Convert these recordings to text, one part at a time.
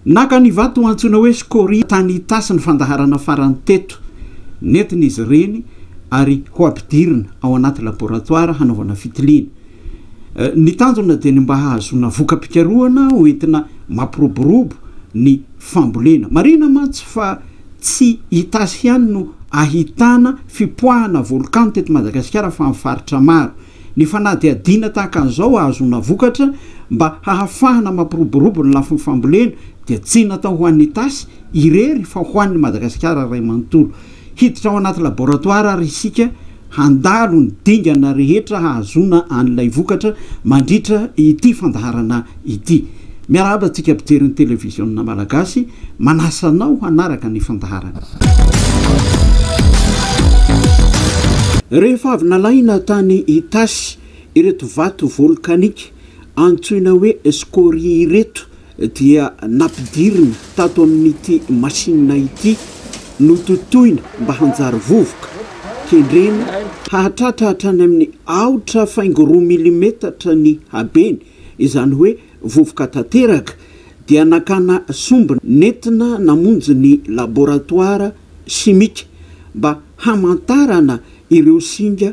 Naka ny vato antsoina hoe scoria tany Itasy ny fandaharana farany teto. Nentina izy ireny ary ho ampidirina ao anaty laboratoara hanaovana fitiliana. Ny tanjona dia ny mba hahazoana voka-pikarohana ho entina mampiroborobo ny fambolena. Marihina mantsy fa tsy Itasy ihany no ahitana fipoahana volkano teto Madagasikara fa amin'ny faritra maro. Ny fanadihadiana tahaka an'izao hahazoana vokatra mba hahafahana mampiroborobo ny lafiny fambolena dia tsy natao ho an'i Itasy irery fa ho an'i Madagasikara iray manontolo. Hiditra ao anaty laboratoara ary isika handalo ny dingana rehetra hahazoana an'ilay vokatra mandritra ity fandaharana ity. Miarahaba antsika mpijery ny Televiziona Malagasy, manasa anao hanaraka ny fandaharana. Rehefa avy nalaina tany Itasy ireto vato volkanika antsoina hoe scorie ireto dia nampidirina tato amin'ity masinina ity, nototoina mba hanjary vovoka, kendrena hahatratra hatrany amin'ny aotra faingo roa milimetatra ny habeny, izany hoe vovoka tanteraka, dia nakana sombina nentina namonjy ny laboratoara simika mba hamantarana ireo singa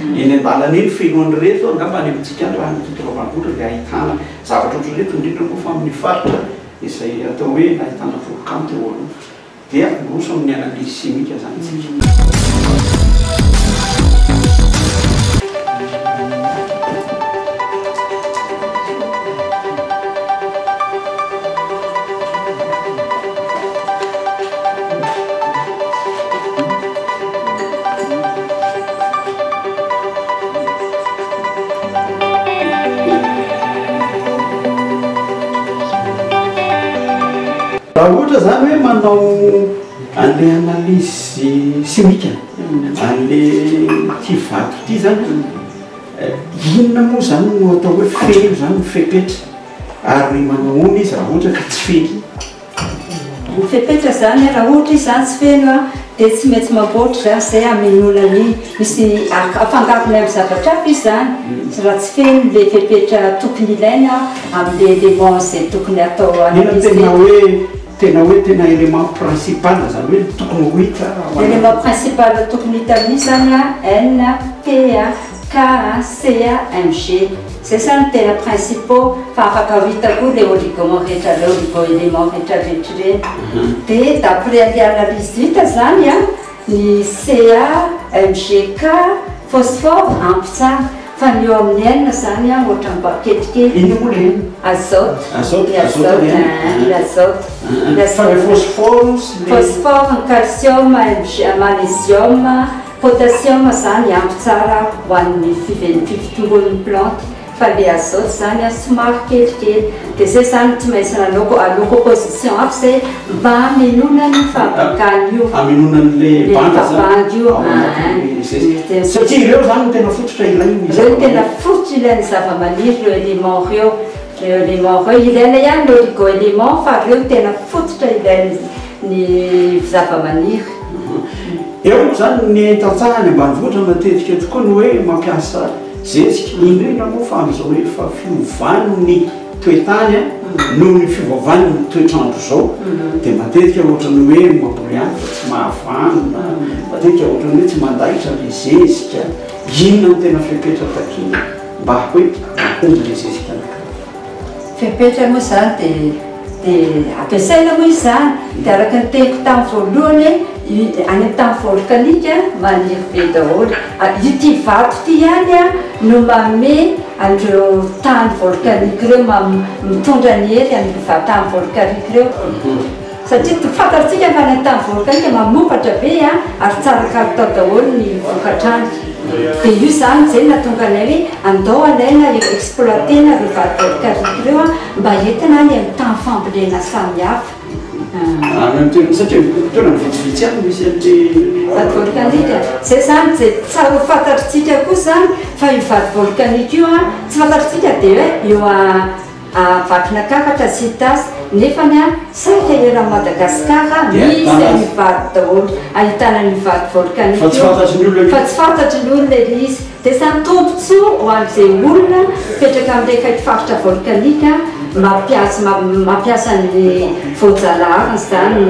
Eny an-dalana eny feno an'ireto, angamba any amintsika any raha any Tototra Ambanivohitra dia ahitana zavatra ohatr'ireto, indrindra moa fa amin'ny faritra izay atao hoe nahitana volcan teo aloha, dia miroso amin'ny analyse chimique izany isika. Raha ohatra izany hoe manao an'ilay analyse chimique an'ilay ity vato ity izany, inona moa izany no atao hoe feno izany, fepetra? Ary manahoana izy raha ohatra ka tsy feno? Ho fepetra zany raha ohatra izy zany tsy feno dia tsy maintsy maboatra zany izay amenoana ny misy afangarony amin'ny zavatra hafa izy zany raha tsy feno le fepetra tokony ilaina amin'ny element izay tokony atao analyse eto. Inona no tena hoe tena hoe element principal izany hoe tokony ho hita ao anatin'ny. Element principal tokony hita amin'izy zany a, N, P, K, C, M, G. C'est ça no tena principaux fa afaka ho hita koa le oligoments rehetra reo, oligoéléments rehetra rehetra reny. De d'après anle analyse vita zany an, ny Ca, MgK, phosphore ampy tsara, fa ny eo amin'ny N zany an ohatran'ny mba kelikely. Inona moa le N? Azote. Azote? Ny Azote azote le N? an, ny azote. Ny Fa le azote. phosphore sy le. Phosphore, ny calcium, Mg, magnesium. Potassium zany ampy tsara ho an'ny fitomboan'ny plante fa le azote zany somary kelikely de zay zany tsy maintsy nanaoko anaoko position hafa zay mba hamenoana ny fabrikan'io hamenoana an'le banda zany io ahh satria ireo zany no tena fototra ilain'ny ireo no tena fototra ilain'ny zavamaniry ireo éléments reo reo éléments reo ilaina ihany ny origo éléments fa reo tena fototra ilain'ny zavamaniry Eo moa izany ny tantsaha any ambanivohitra matetika tokoa no hoe mampiasa zezika, indrindra moa fa amin'izao efa fiovan'ny toe-tany noho ny fiovaovan'ny toetr'andro izao dia matetika ohatran'ny hoe mamboly any fa tsy mahavanona, matetika ohatran'ny hoe tsy mandaitra ilay zezika, inona no tena fepetra takiana mba hoe mahomby ilay zezika anankiray. Fepetra moa izany dia dia ampiasaina moa izany dia araka ny teniko tamin'ny voalohany hoe i any amin'ny tany volkanika maniry be daholo ity vato ity ihany an no manome an'ireo tany volkanika ireo mitondra ny hery an'ireo tany volkanika ireo. Satria tsy fantatsika fa any an-tany volkanika mamokatra be ary tsara kalitao daholo ny vokatrany. Dia io izany izay nahatonga anay hoe andao alaina ireo exploiter-na ireo vary volkanika ireo mba entina any amin'ny tany fambolena samihafa. Any amin'ny toerana, satria toerana vitsivitsy ihany no misy an'ilay. Vary volkanika. Izay izany izay tsy ho fantatritsika koa izany fa io vary volkanika io tsy fantatritsika dia hoe eo. Ah vakina kafatra sy tas nefany an saika eran'i Madagascar an misy an'io vato daholo ahitana an'io vato volcanique io fa tsy fantatry ny olona ery izy dia samy tombotsoa ho an'izay olona mipetraka amin'ireny kay faritra volcanique an mampias mampiasa ny voajalahariny izany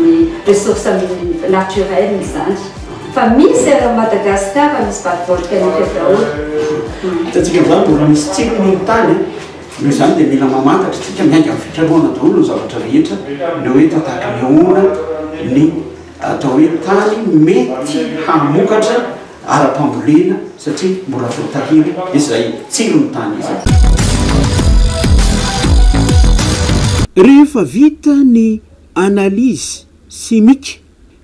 ny ressource naturel izany Fa misy ary am Madagascar fa misy vaky volcanique daholo. Hitantsika amin'izany mbola misy tsikiny ny tany noho izany dia mila mamantatra isika miainga fikarohana daholo ny zavatra rehetra ny hoe tantaka ny ahoana ny atao hoe tany mety hamokatra ara-pambolena satria mbola voatahiry izay tsiron'ny tany izay. Rehefa vita ny analyse simika.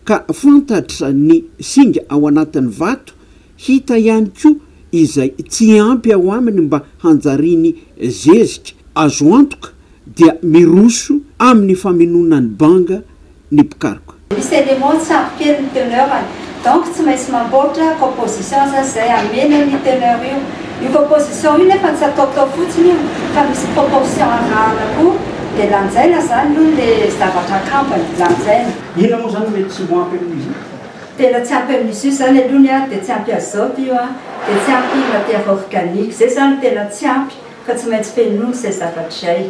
ka fantatra ny singa ao anatin'ny vato, hita ihany koa izay tsy ampy ao aminy mba hanjariany zezika, azo antoka dia miroso amin'ny famenoana ny banga ny mpikaroka. Misy élément tsy ampy kely ny teneur-ny, donc tsy maintsy mamboatra composition zazay hameno an'io teneur io, Io proposition io nefa tsy ataotao fotsiny io fa misy proportion arahana koa dia lanjaina zany lo le zavatra akambany, lanjaina. Inona moa zany no mety tsy ho ampy amin'izy io? Tena tsy ampy amin'izy io zany aloha ny ahy dia tsy ampy azote io an, dia tsy ampy matière organique, zay zany no tena tsy ampy fa tsy maintsy fenoina izay zavatra izay.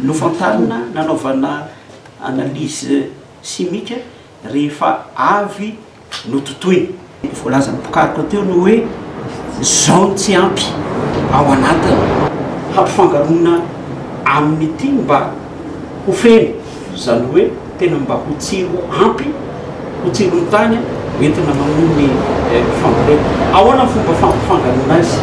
Nofantarina nanaovana analyse simika rehefa avy nototoina. Ny voalazan'ny mpikaroka teo no hoe izao no tsy ampy ao anatiny hampifangaroana amin'ity mba ho feno, izany hoe. tena mba ho tsiro ampy, ho tsiron'ny tany ho entina mamono ny fambolena. Ahoana ny fomba fampifanganoana azy?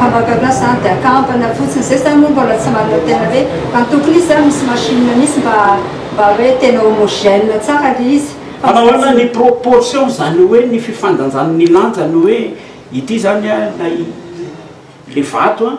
Havakanao izany dia akambana fotsiny. Izay izany moa mbola tsy manana tena hoe any tokony hisy izany misy machine misy mba mba hoe tena homogène tsara ilay izy. Hanao ahoana ny proportion izany hoe ny fifandanjan'ny lanjany hoe ity izany an, na ilay vato an.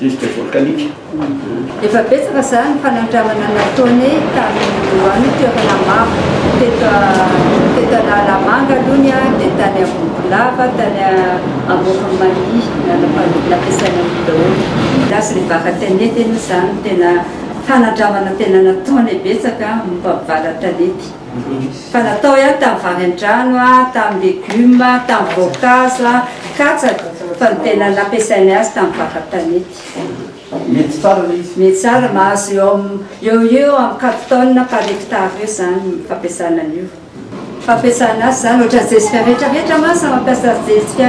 Rivotra volkanika. Efa betsaka za ny fanandramana nataony tamin'ny doany toerana maro teto teto Analamanga aloha ny ahy dia tany Ambohikolava tany Ambovy Mania nanam-pano nampiasaina an'io daholo. Gasy Ribaka Tanety aloha zany tena fanandramana tena nataony betsaka momba ny valan-tanety. Fa natao ihany tamin'ny vary an-drano, tamin'ny legioma, tamin'ny voankazo, katsaka, fa ny tena nampiasainay azy tamin'ny vary an-tanety. Mety tsara ilay izy. Mety tsara, mahazo eo amin'ny, eo ho eo amin'ny quatre tonnes par hectare eo izany ny fampiasana an'io. Fampiasana azy izany, ohatran'ny zezika rehetra rehetra mantsy no mampiasa zezika.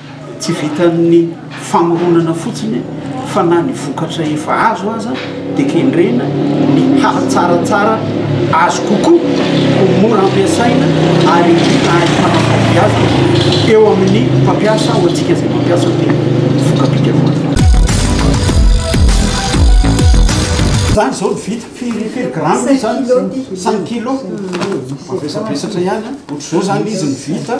Tsy vitan'ny famoronana fotsiny fa na ny vokatra efa azo aza dia kendrena ny hahatsaratsara azy kokoa, ho mora ampiasaina ary hahay fanampadiazana eo amin'ny mpampiasa ho antsika izay mampiasa ny voka-pikarohana. Izany izao ny vita, firy firy grammes izany? Cinq kilos? Mavesabesatra ihany an! Ohatr'izao izany izy ny vita.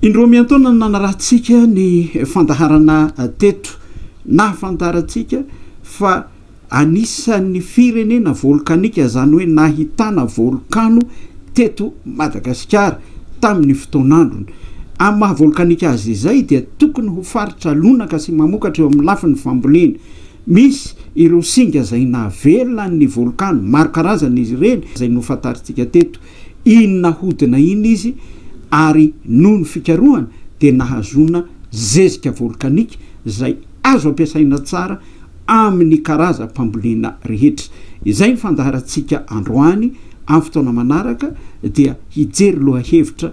Indroa miantaona no nanarahantsika ny fandaharana teto. Nahafantarantsika fa anisan'ny firenena volkanika, izany hoe nahitana volkano teto Madagasikara tamin'ny fotoan'androny. Amin'ny maha volkanika azy izay dia tokony ho faritra lonaka sy mamokatra eo amin'ny lafiny fambolena. Misy ireo singa izay navelona ny volkano, maro karazana izy ireny, izay nofantarintsika teto. Iny nahodina iny izy ary noho ny fikarohana dia nahazoana zezika volkanika izay azo ampiasaina tsara amin'ny karazam-pambolena rehetra. Izay ny fandaharantsika androany, amin'ny fotoana manaraka dia hijery lohahevitra